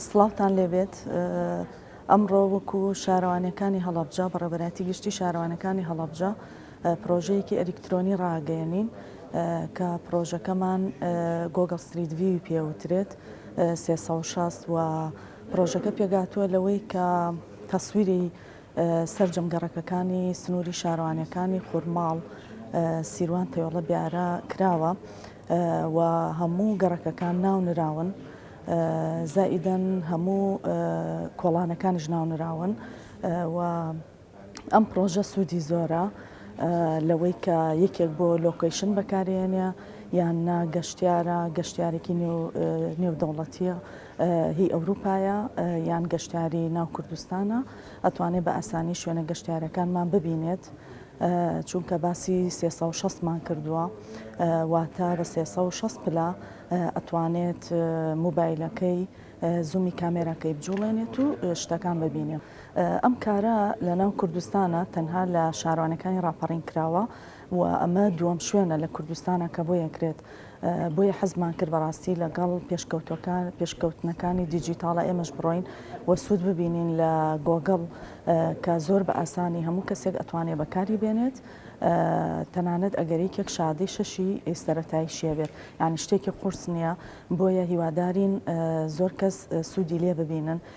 سڵاوتان لێبێت ئەمڕۆ وەکو شارەوانەکانی هەڵەبجە بەڕێبەراتی گشتی شارەوانەکانی هەڵەبجە پرۆژەیەکی ئەلیکترۆنی ڕاگەیەنین کە پرۆژەکەمان گۆگل ستریت وی پێوترێت 360 و پرۆژەکە پێگاتووە لەوەی کە تەسویری سەرجەم گەڕەکەکانی سنووری شارەوانییەکانی خورماڵ، سیروان، تەیۆڵە، بیارە کراوە و هەموو گەڕەکەکان ناونراون، زائیدەن هەموو کۆڵانەکانیش ناونراون و ئەم پڕۆژە سوودی زۆرە لەوەی کە یەکێک بۆ لۆکەیشن بەکارێنێ یان نا گەشتیارە، گەشتیارێکی نێودەوڵەتییە هی ئەوروپایە یان گەشتیاری ناو کوردستانە ئەتوانێت بە ئاسانی شوێنە گەشتیارەکانمان ببینێت چونکە باسی 360 مان کردووە واتە بە 360 پلا ئەتوانێت موبایلەکەی زومی کامێراکەی بجوڵێنێت و شتەکان ببینێ ئەم کارە لە ناو کوردستانە تەنها لە شارانەکانی راپەڕین کراوە و ئەمە دووەم شوێنە لە کوردستانا کە بۆی ئەکرێت، بۆیە حەزمان کرد بەڕاستی لەگەڵ پێشکەوتوەکان پێشکەوتنەکانی دیجیتاڵا ئێمەش بڕۆین و سوود ببینین لە گۆگڵ کە زۆر بە ئاسانی هەموو کەسێک ئەتوانێت بەکاری بێنێت تەنانەت ئەگەر یەکێک شادەی شەشی سەرەتایی شیە بێت یعنی شتێکی قورس نییە بۆیە هیوادارین زۆر کەس سوودی لێ ببینن